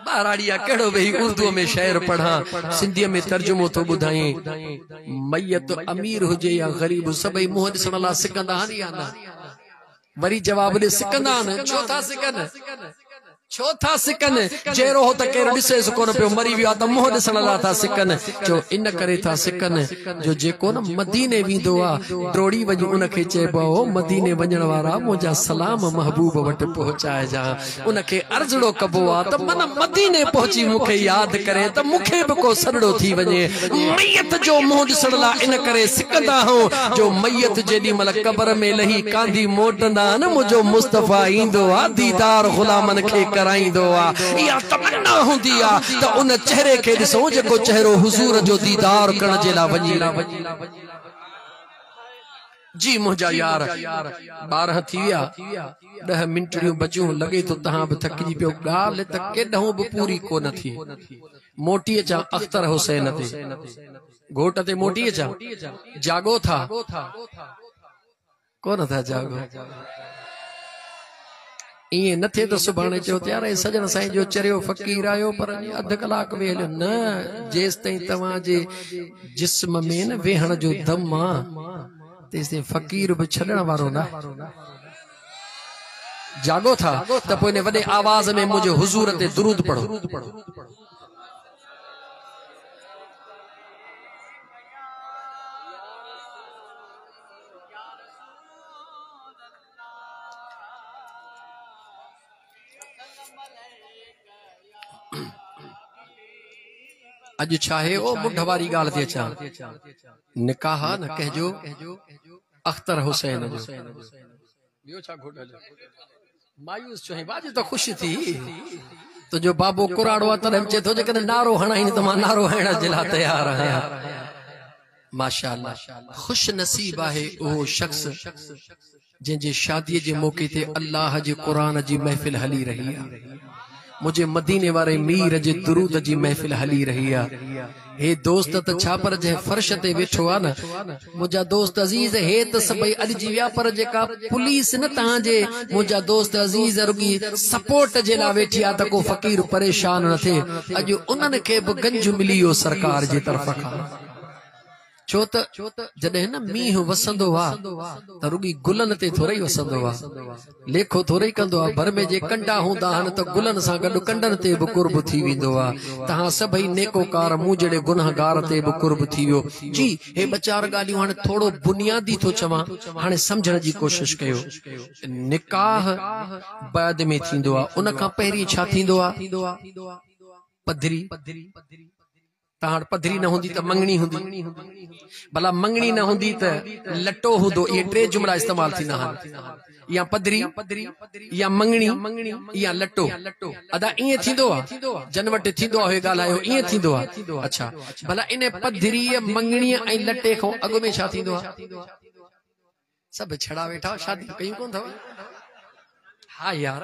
ٻهراڙي آ ڪهڙو ويهي اردوء ۾ شعر پڙهان سنڌيء ۾ ترجمو ٿو ٻڌائين ميت امير هجي يا غريب سڀئي منهن ڏسڻ لاء سڪندا آهن يا نه وري جواب ڏي سڪندا آهن ڇو ٿا سڪن ڇو ٿا سڪن؟ جي روح ته ڪير ڏسيس ڪونه پيو، مري ويو آهي ته منهن ڏسڻ لاء ٿا سڪن. چيو، ان ڪري ٿا سڪن جو جيڪو نه مديني ويندو آهي، ڊوڙي وڃي ان کي چئبو آهي، او مديني وڃڻ وارا، منهنجا سلام محبوب وٽ پهچائجان. ان کي عرضڙو ڪبو آهي ته من مديني پهچي مون کي ياد ڪري ته مون کي به ڪو سڏڙو ٿي وڃي. ميت جو منهن ڏسڻ لاء ان ڪري سڪندا هئون جو ميت جيڏي مهل قبر ۾ لهي ڪانڌي موٽندا آهن منهنجو مصطفيٰ ايندو آ ديدار غلامن کي ڪرائيندو آ اها تمنا هوندي آ ته ان چهري کي ڏسون جيڪو چهرو حضور جو ديدار ڪرڻ جي لاء وڃي جي منهنجا يار، ٻارهن ٿي ويا، ڏهه منٽڙيون بچيون، لڳي ٿو تهان به ٿڪجي پيو، ڳالهه ته ڪيڏهون به پوري ڪو نه ٿي، موٽي اچان اختر حسين تي، گهوٽ تي موٽي اچان، جاڳو ٿا، ڪو نه ٿا جاڳو. ائين نه ٿئي ته سڀاڻي چئو ته يار هي سڄڻ سائين جو چريو فقير آيو پر اڃا اڌ ڪلاڪ ويهي هليو نه جيستائين توهان جي جسم ۾ نه ويهڻ جو دم آ تيستائين فقير به ڇڏڻ وارو ناهي جاڳو ٿا ته پوء ان وڏي آواز ۾ منهنجي حضور تي درود پڙهو اڄ ڇاهي او مونڍ واري ڳالهه تي اچان نڪاح نه ڪهجو اختر حسين جو ٻيو ڇا گهٽ هليو مايوس چوهين واڄ ته خوش ٿي تنهنجو بابو ڪراڙو آ تڏهن چي ٿو جيڪڏهن نعرو هڻائين ته مان نعرو هڻڻ جي لاء تيار آهيان ماشاءالله خوش نصيب آهي اهو شخص جنهن جي شادي جي موقعي تي الله جي قرآن جي محفل هلي رهي آ منهنجي مديني واري مير جي درود جي محفل هلي رهي آ هي دوست ته ڇا پر جنهن فرش تي ويٺو آ نه منهنجا دوست عزيز هي ته سڀئي اڏجي ويا پر جيڪا پوليس نه تهان جي منهنجا دوست عزيز رڳي سپورٽ جي لا ويٺي آ ته ڪو فقير پريشان نه ٿئي اڄ انهن کي به گنج ملي ويو سرڪار جي طرف کان ڇو ته جڏهن نه مينهن وسندو آ ته رڳي گلن تي ٿورئي وسندو آ. ليکو ٿورئي ڪندو آ. ڀر ۾ جي ڪنڊا هوندا آهن ته گلن سان گڏ ڪنڊن تي به قرب ٿي ويندو آ. توهان سڀئي نيڪوڪار مون جهڙي گنهگار تي به قرب ٿي ويو. جي هي ٻه چار ڳالهيون هاڻي ٿورو بنيادي ٿو چوان هاڻي سمجهڻ جي ڪوشش ڪيو. نڪاح بعد ۾ ٿيندو آ. ان کان پهرين ڇا ٿيندو آ؟ پڌري. تهاڙ پڌري نه هوندي ته مڱڻي هوندي، ڀلا مڱڻي نه هوندي ته لٽو هوندو، اهي ٽي جملا استعمال ٿيندا آهن، يا پڌري، يا مڱڻي، يا لٽو. ادا ائين ٿيندو آ، جن وٽ ٿيندو آ اهي ڳالهايو، ائين ٿيندو آ؟ اڇا، ڀلا ان پڌريء، مڱڻيء ۽ لٽي کان اڳ ۾ ڇا ٿيندو آ؟ سڀ ڇڙا ويٺا آهيو، شاديون ڪيون ڪونه اٿو؟ ها يار!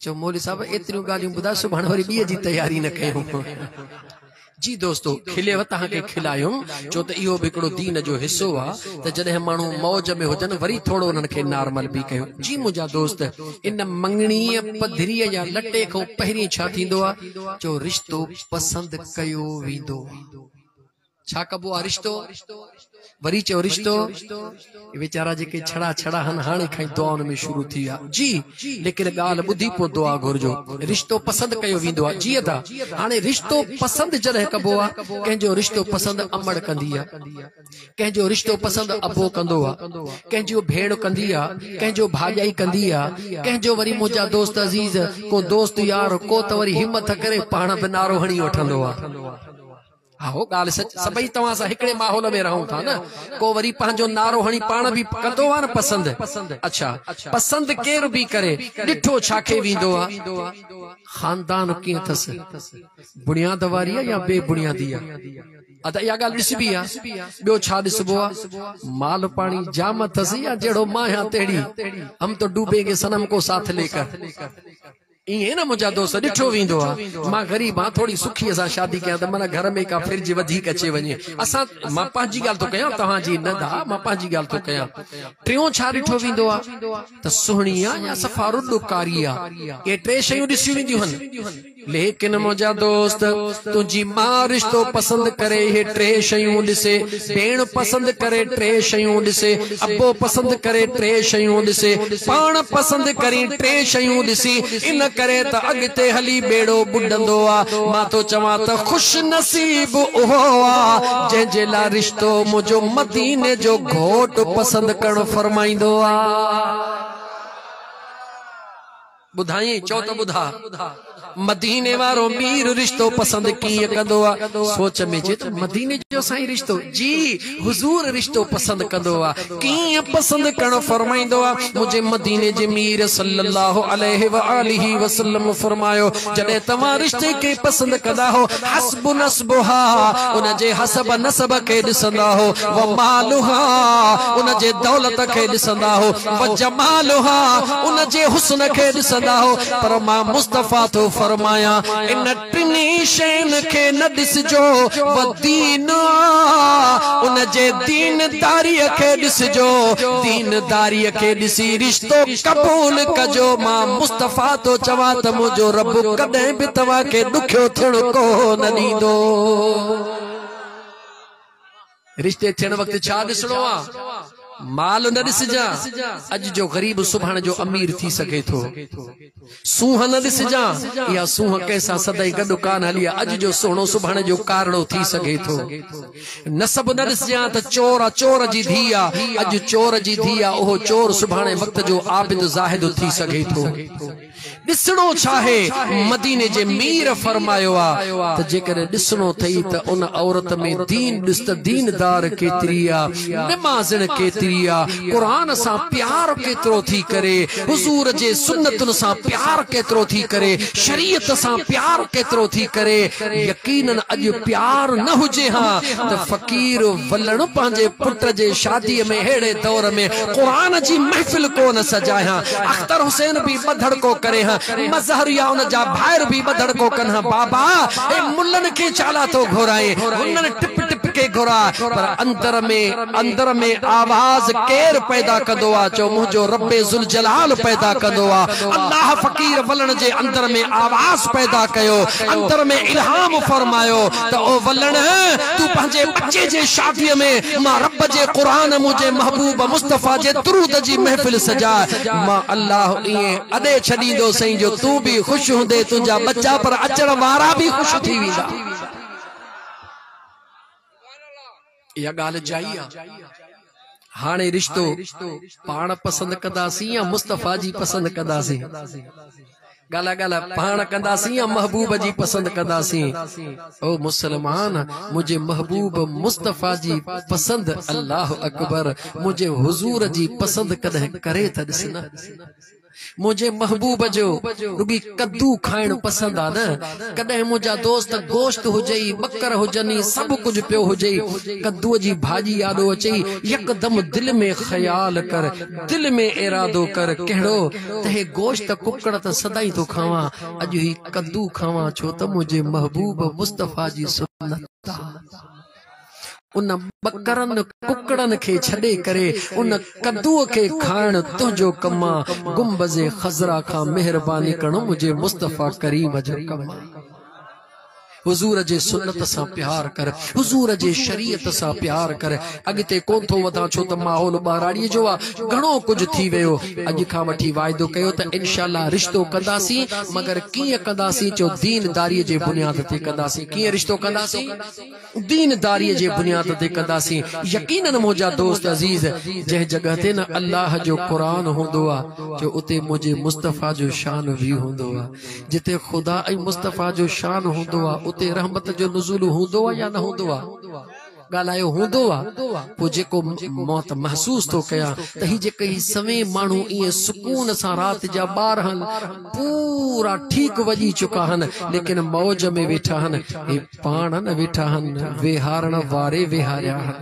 چيو مولوي صاحب ايتريون ڳالهيون ٻڌاء سڀاڻي وري ٻيء جي تياري نه ڪيون جي دوستو کلي وتان کي کلايم چو ته اهو به هڪڙو دين جو حصو آ ته جڏهن ماڻهو موج ۾ هجن وري ٿورو انهن کي نارمل به ڪيو جي منهنجا دوست ان مڱڻي پڌري يا لٽي کان پهرين ڇا ٿيندو آ چو رشتو پسند ڪيو ويندو آ ڇا ڪبو آ رشتو؟ وري چيو رشتو؟ اي ويچارا جيڪي ڇڙا ڇڙا ھن ھاڻي کان ئي دعائن ۾ شروع ٿي ويا. جي ليڪن ڳالھ ٻڌي پوء دعا گھرجو. رشتو پسند ڪيو ويندو آ. جي ادا. ھاڻي رشتو پسند جڏھن ڪبو آ. ڪنھن جو رشتو پسند امڙ ڪندي آ. ڪنھن جو رشتو پسند ابو ڪندو آ. ڪنھن جيو ڀيڻ ڪندي آ. ڪنھن جو ڀاڄائي ڪندي آ. ڪنھن جو وري منھنجا دوست عزيز. ڪو دوست يار ڪو ته وري ھمت ڪري پاڻ به نعرو ھڻي وٺندو آ. اهو ڳالهه سچ سڀئي توهان سان هڪڙي ماحول ۾ رهون ٿا نه ڪو وري پنهنجو نعرو هڻي پاڻ به ڪندو آ نه پسند اڇا پسند ڪير به ڪري ڏٺو ڇا کي ويندو آ خاندان ڪيئن اٿس بڻياد واري آ يا بي بڻيادي آ ادا اها ڳالهه ڏسبي آ ٻيو ڇا ڏسبو آ مال پاڻي جام اٿس يا جهڙو ماهيان تهڙي هم تو ڊوبينگي صنم ڪو ساٿ لي ڪر ائين نه منهنجا دوست، ڏٺو ويندو آ مان غريب آهيان، ٿوري سکيء سان شادي ڪيان ته من گهر ۾ ڪا ڦرج وڌيڪ اچي وڃي. اسان، مان پنهنجي ڳالهه ٿو ڪيان توهان جي نه ڌاء، مان پنهنجي ڳالهه ٿو ڪيان. ٽيون ڇا ڏٺو ويندو آ ته سهڻي آ يا صفا رڏ ڪاري آ. اهي ٽي شيون ڏسيون وينديون هن. ليڪن منهنجا دوست، تنهنجي ماء رشتو پسند ڪري اهي ٽي شيون ڏسي، ڀيڻ پسند ڪري ٽي شيون ڏسي، ابو پسند ڪري ٽي شيون ڏسي، پاڻ پسند ڪرين ٽي شيون ڏسي، ان ڪري ته اڳتي هلي ٻيڙو ٻڏندو آ. مان ٿو چوان ته خوش نصيب اهو آ، جنهن جي لاء رشتو منهنجو مديني جو گهوٽ پسند ڪرڻ فرمائيندو آ. ٻڌائين چئو ته ٻڌاء. مديني وارو مير رشتو پسند ڪيئن ڪندو آ؟ سوچ ۾ چئي ته مديني جو سائين رشتو؟ جي حضور رشتو پسند ڪندو آ. ڪيئن پسند ڪرڻ فرمائيندو آ؟ منهنجي مديني جي مير صلّي اللّٰه عليه واٰله وسلّم فرمايو، جڏهن توهان رشتي کي پسند ڪندا هو، حسب نسبها، ان جي حسب نسب کي ڏسندا هو، ومالها، ان جي دولت کي ڏسندا هو، وجمالها ان جي حسن کي ڏسندا هو پر مان مصطفيٰ ٿو فرمايان ان ٽنهي شين کي نه ڏسجو ودين ان جي دين داري کي ڏسجو دين داري کي ڏسي رشتو قبول ڪجو مان مصطفيٰ ٿو چوان ته منهنجو رب ڪڏهن به توهان کي ڏکيو ٿيڻ ڪونه ڏيندو. رشتي ٿيڻ وقت ڇا ڏسڻو آ؟ مال نه ڏسجان، اڄ جو غريب سڀاڻ جو امير ٿي سگهي ٿو. سونهن نه ڏسجان، اها سونهن ڪنهن سان سدائين گڏ ڪانه هلي آ، اڄ جو سهڻو سڀاڻ جو ڪارڙو ٿي سگهي ٿو. نسب نه ڏسجان ته چور آ چور جي ڌيء آ، اڄ چور جي ڌيء آ، اهو چور سڀاڻي وقت جو عابد زاهد ٿي سگهي ٿو. ڏسڻو ڇاهي؟ مديني جي مير فرمايو آ ته جيڪڏهن ڏسڻو اٿئي ته ان عورت ۾ دين ڏس ته ديندار ڪيتري آ، نمازڻ ڪيتري آ، قرآن سان پيار ڪيترو ٿي ڪري، حضور جي سنتن سان پيار ڪيترو ٿي ڪري، شريعت سان پيار ڪيترو ٿي ڪري. يقينن اڄ پيار نه هجي ها ته فقير ولڻ پنهنجي پٽ جي شادي ۾ اهڙي دور ۾ قرآن جي محفل ڪونه سجائي ها. اختر حسين به ٻڌڙڪو ڪري ها. مظهر يا ان جا ڀائر به ٻڌڙڪو ڪن ها. بابا! اي ملن کي ڇا لاء ٿو گهرائين؟ هنن ٽپ ٽپ کي گهراء. پر اندر ۾ اندر ۾ آواز ڪير پيدا ڪندو آ؟ چئو منهنجو رب ذوالجلال پيدا ڪندو آ. الله فقير ولڻ جي اندر ۾ آواز پيدا ڪيو. اندر ۾ الهام فرمايو. ته او ولڻ! تون پنهنجي ٻچي جي شاديء ۾ مان رب جي قرآن، منهنجي محبوب مصطفيٰ جي درود جي محفل سجاء. مان الله ائين اڏي ڇڏيندو سئين جو تون به خوش هوندين، تنهنجا ٻچا پر اچڻ وارا به خوش ٿي ويندا. اها ڳالهه جائي آ. هاڻي رشتو پاڻ پسند ڪنداسين يا مصطفيٰ جي پسند ڪنداسين؟ ڳالهه ڳالهه پاڻ ڪنداسين يا محبوب جي پسند ڪنداسين؟ او مسلمان! منهنجي محبوب مصطفيٰ جي پسند الله اڪبر! منهنجي حضور جي پسند ڪڏهن ڪري ته ڏس نه. منهنجي محبوب جو رڳي ڪدو کائڻ پسند آ نه ڪڏهن منهنجا دوست گوشت هجئي ٻڪر هجني سڀ ڪجهه پيو هجئي ڪدوء جي ڀاڄي آڏو اچئي يڪدم دل ۾ خيال ڪر دل ۾ ارادو ڪر ڪهڙو ته هي گوشت ڪڪڙ ته سدائين ٿو کاوان اڄ هي ڪدو کاوان ڇو ته منهنجي محبوب مصطفيٰ جي سنت آ. ان ٻڪرن ڪڪڙن کي ڇڏي ڪري ان ڪدوء کي کائڻ تنهنجو ڪم آ، گنبذ خضرا کان مهرباني ڪرڻ منهنجي مصطفيٰ ڪريم جو ڪم آ. حضور جي سنت سان پيار ڪر، حضور جي شريعت سان پيار ڪر. اڳتي ڪونه ٿو وڌان ڇو ته ماحول ٻهراڙيء جو آ، گهڻو ڪجهه ٿي ويو. اڄ کان وٺي واعدو ڪيو ته انشاء الله رشتو ڪنداسين، مگر ڪيئن ڪنداسين جو دين داريء جي بنياد تي ڪنداسين. ڪيئن رشتو ڪنداسين؟ دين داريء جي بنياد تي ڪنداسين، يقيناً منهنجا دوست عزيز، جنهن جڳهه تي نه الله جو قرآن هوندو آ جو اتي منهنجي مصطفيٰ جو شان وي هوندو آ، جتي خدا ۽ مصطفيٰ جو شان هوندو آ اتي رحمت جو نزول هوندو آ يا نه هوندو آ؟ ڳالهايو هوندو آ، پوء جيڪو موت محسوس ٿو ڪيان ته هي جيڪي هي سوين ماڻهو ائين سڪون سان رات جا ٻارهن پورا ٺيڪ وڄي چڪا هن ليڪن موج ۾ ويٺا هن، هي. پاڻ نه ويٺا هن، ويهارڻ واري ويهاريا هن.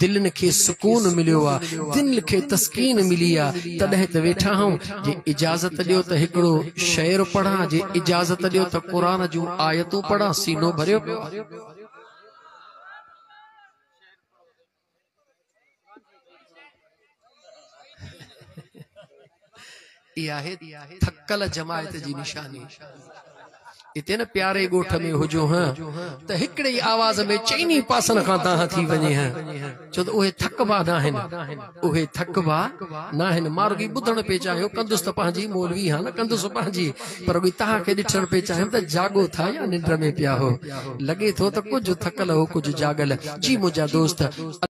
دلين کي سڪون مليو آ، دل کي تسڪين ملي آ، تڏهن ته ويٺا آهون. جي اجازت ڏيو ته هڪڙو شعر پڙهان، جي اجازت ڏيو ته قرآن جون آيتون پڙهان، سينو ڀريو پيو آ. اها آهي ٿڪل جماعت جي نشاني اتي نه پياري ڳوٺ ۾ هجو ها ته هڪڙي ئي آواز ۾ چئني پاسن کان دانهن ٿي وڃي ها ڇو ته اهي ٿڪبا نه آهن اهي ٿڪبا نه آهن مارگي ٻڌڻ پئي چاهيو ڪندس ته پنهنجي مولوي ها نه ڪندس پنهنجي پر اڳي توهان کي ڏٺڻ پئي چاهيم ته جاڳو ٿا يا ننڊ ۾ پيا هئو. لڳي ٿو ته ڪجهه ٿڪل هئو ڪجهه جاڳل. جي منهنجا دوست!